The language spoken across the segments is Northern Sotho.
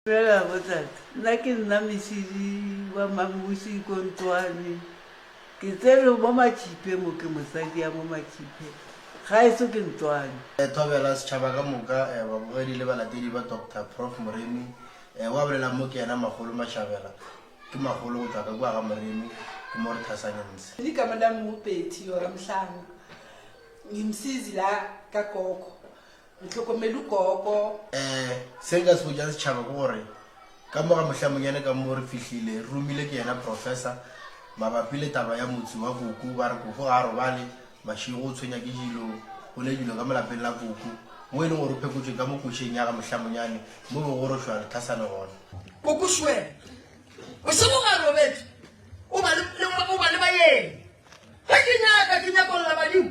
Fela bothata, nna ke nna mešidi wa Mamuši ko ntlwane. Ke tserwe mo Matšhiphe mo, ke mosadi ya mo Matšhiphe, gaeso ke ntlwane. Thobela setšhaba ka moka, babogedi le balatedi ba Doctor Prof Moremi. O a bolelang mo ke yena Magolo Mashabela. Ke Magolo go tšwa ka kua ga Moremi, ke mo re thasanyang msi. Ni ka mona mupethi yora mhlanga, ni msizi la ka koko. Ntlhokomelu koko. Eh, se nka se botšang setšhaba ke gore ka moga mohlamonyane ka mo re fihlile re romile ke yena professor mabapi le taba ya motse wa koko ba re koko ga a robale mašego o tshwenya ke dilo go ne dilo ka molapeng la koko mo e leng gore o phekotšwe ka mo košeng ya ga mohlamonyane mo be go rošwa lethasane gona koko šwe bošego ga robetse o ba le ba yeng ga ke nyaka ke nyakolola badimo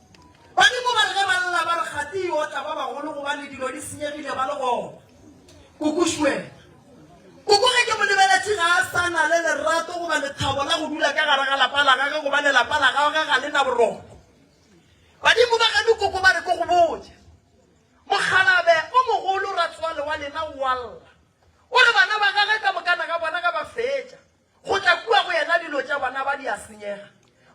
Badimo ba re ge ba lla ba re gati yo tla ba bagolo gobane dilo di senyegile ba le gona. Kokošuela. Koko ge ke mo lebeletše ga a sa na le lerato goba lethabo la go dula ka gare ga lapa la gage gobane lapa la gage ga le na boroko. Badimo ba geno koko ba re ko go botša. Mokgalabe o mogolo ratswale wa lena o a lla. O re bana ba gage ka mokana ga bona ga ba fetša. Go tla kua go yena dilo tša bona ba di a senyega.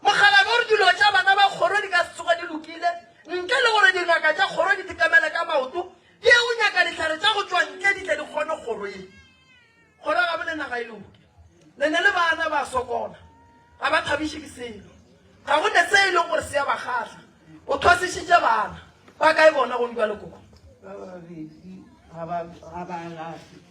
Mokgalabje o re dilo tša bana ba kgoro di ka se tsoge di lokile ntle le gore dingaka tša kgoro di dikamele ka maoto di ye go nyaka dihlare tša go tšwa ntle di tle di kgone kgoro ye kgoro gabe le naga e loke. Le ne le bana ba sokola, ga ba thabiše ke selo, ga go ne se e lego gore se ya ba kgahla. O thwasišitše bana ba kae bona go ntwa le koko? Ba babedi ga ba alafe.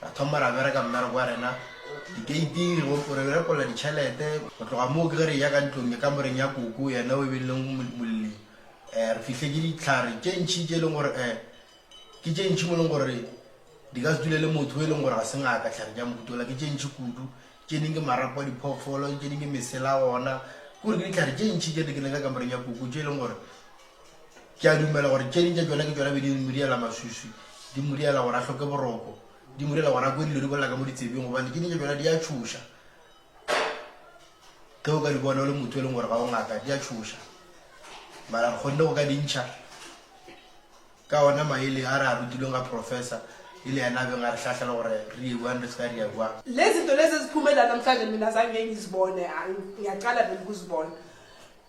Ra thoma ra bereka mmereko wa rena dikeiting, go repolla ditšhelete. Go tloga moo ke ge re eya ka ntlong, ke kamoreng ya Koko, yena o e beileng molli. Re fihle ke dihlare tše ntši tše e leng gore ke tše ntši mo e leng gore di ka se dule le motho o e leng gore ga se ngaka. Dihlare tša mohuta ola ke tše ntši kudu, tše ding ke marapo a diphoofolo, tše ding ke mesela ona. Ke gore ke dihlare tše ntši tše di keneng ka kamoreng ya Koko tše e leng gore Ke a dumela gore tše ding tša tšona ke tšona be di modiela maswiswi, di modiela gore a hloke boroko, di modiela gore a kwe dilo di bolela ka mo ditsebing gobane tše ding tša tšona di a tšhoša. Ge o ka di bona o le motho e leng gore ga o ngaka, di a tšhoša. Mara re kgonne go ka di ntšha ka ona maele a re a rutilweng ga Professor e le yena a beng a re hlahlela gore re ye bjang re se ka re ya bjang. Lezi zinto lezi eziphumela namhlanje mina zange ngizibone, ngiyaqala vele ukuzibona.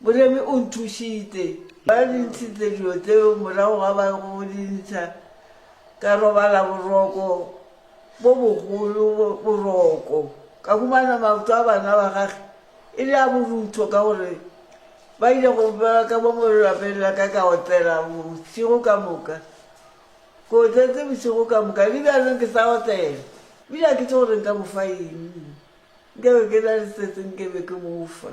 Moremi o nthušitše. Ba di ntšhitše dilo tšeo morago ga ba go di ntšha. Ka robala boroko bo bogolo, boroko. Ka humana maoto a bana ba gage e le a borutho ka gore ba ile go bjala ka mo lelapeng la ka ka otlela bošego ka moka. Ke otletse bošego ka moka le bjalong ke sa otlela. Ebile ga ke tše gore nka mo fa eng. Nkabe ke na le se sengwe ke be ke mo fa.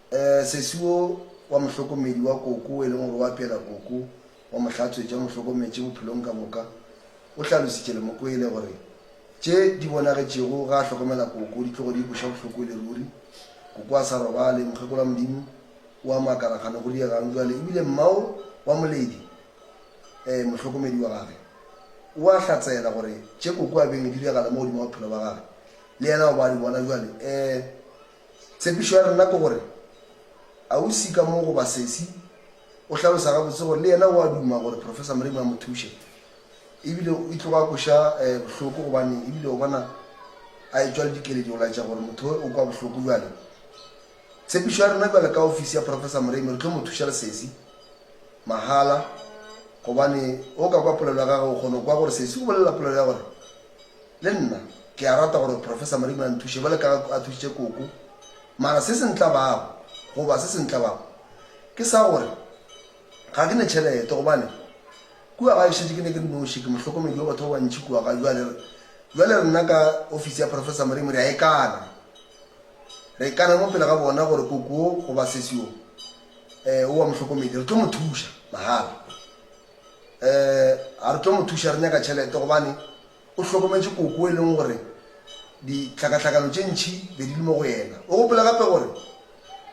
Sesi wo wa mohlokomedi wa koko, wo e lego gore o apeela koko, wa mo hlatswetša, o mo hlokometše bophelong ka moka, o hlalositše le Mokwele gore tše di bonagetšego ge a hlokomela koko di tlogo di ikweša bohloko e le ruri. Koko a sa robale, mokgekolo wa Modimo o a makala kgane go diegang bjale, e bile mmao wa Moledi, mohlokomedi wa gagwe, o a hlatseela gore tše koko a beng e diragala mo godimo ga bophelo bja gagwe le yena o be a di bona bjale. Ee, Tshepišo ya rena ke gore ausi ka mo goba sesi o hlalosa gabotse gore le yena o a duma gore Professor Moremi a mo thuše ebile e tlogo a kweša bohloko gobane ebile o bona a etšwa le dikeledi go laetša gore motho we o kwa bohloko. Bjale tshepišo ya rena bjale ka ofisi ya Professor Moremi re tlo mo thuša le sesi mahala gobane o ka kwa polelo ya gage o kgona go kwa gore sesi o bolela polelo ya gore Le nna ke a rata gore Professor Marimu a nthuše bjale ka ge a thušitše Koko. Mara se se ntlabago, goba se se ntlabago, ke sa gore ga ke ne tšhelete gobane kua gae šetše ke ne ke le noši, ke mohlokomedi wa batho ba bantši kua gae. Bjale, bjale rena ka ofisi ya Professor Marimu re a ikana. Re ikana mo pele ga bona gore Koko wo, goba sesi wo, um o wa mohlokomedi. Re tlo mo thuša, mahala. um a re tlo mo thuša, re nyaka tšhelete gobane o hlokometše koko e leng gore dihlakahlakano tše ntšhi be di le mo go yena. O gopola gape gore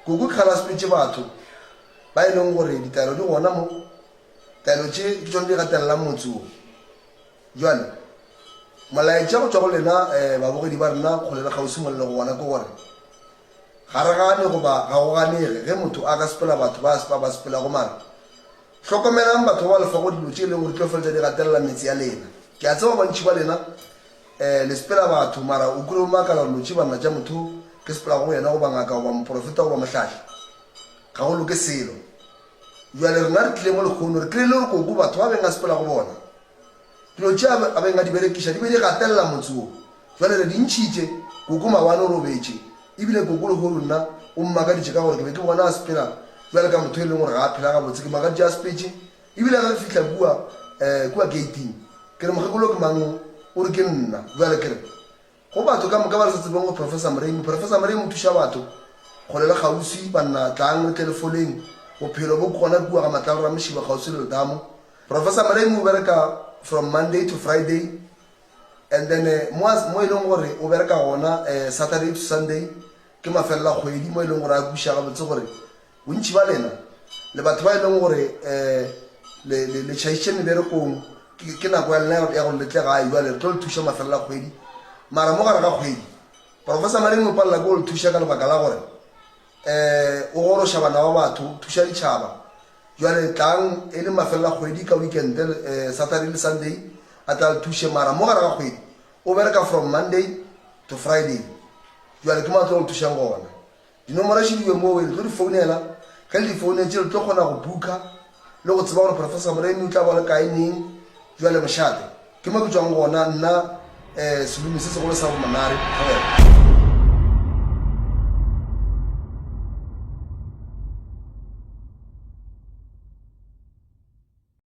koko ke galasmetše batho ba e leng gore ditaelo di gona mo, taelo tše ke tšone di gatelelang motse wo. Bjale molaetša go tšwa go lena um babogedi ba rena kgole le kgauswi mo le lego gona ke gore ga re gane goba ga go ganege ge motho a ka sepela batho ba ba sepelago mara Hlokomelang batho ba ba lefago dilo tše e lego di tlo feletša di gatelela meetse ya lena. Ke a tseba bantši ba lena um le sepela batho, mara o kile wa makala gore lo tše banna tša motho yo ke sepelago go yena goba ngaka goba moporofeta goba mohlahli? Ga go loke selo. Bjale rena re tlile mo lekgono, re tlile le re koko batho ba beng a sepela go bona. Dilo tše a beng a di berekiša di be di gatelela motse wo. Bjale re di ntšhitše. Koko Mawane o robetše, e bile koko Lehoru nna o mmakaditše ka gore ke be ke bona a sepela bjale ka motho e leng gore ga a phela gabotse. Ke makaditše a sepetše, e bile ge re fihla kua, eh, kua geiting, ke re, Mokgekolo ke mang wo? O re, Ke nna. Bjale ke re, Go batho ka moka ba re sa tsebeng go Professor Mremu. Professor Mremu o thuša batho kgole le kgauswi. Banna tlang re tle le foleng, bophelo bo gona kua ga Matlalo Ramošiba kgauswi le Letamo. Professor Mremu o bereka from Monday to Friday and then mo mo e leng gore o bereka gona Saturday to Sunday ke mafelela kgwedi mo e leng gore a kwiša gabotse gore Bontši bja lena le batho ba e lego gore le, le, le tšhaišitše meberekong, ke, ke nako ya lena ya gore le tle gae bjale. Re tlo le thuša mafelelo a kgwedi. Mara mo gare ga kgwedi, Professor Maringo o palela ke go le thuša ka lebaka la gore um o goroša bana ba batho, o thuša ditšhaba. Bjale tlang e le mafelelo a kgwedi ka weekend, um Saturday le Sunday, a tle a le thuše. Mara mo gare ga kgwedi o bereka from Monday to Friday. Bjale ke mo a tlo go le thušang gona. Dinomoro še diwe moo, re tlo di founela. Ge le di founetše, le tlo kgona go booker le go tseba gore Professor Moremi o tla ba le kae, neng. Bjale mošate, ke mo ke tšwang gona nna, um selume se segolo sa bomonare go wena.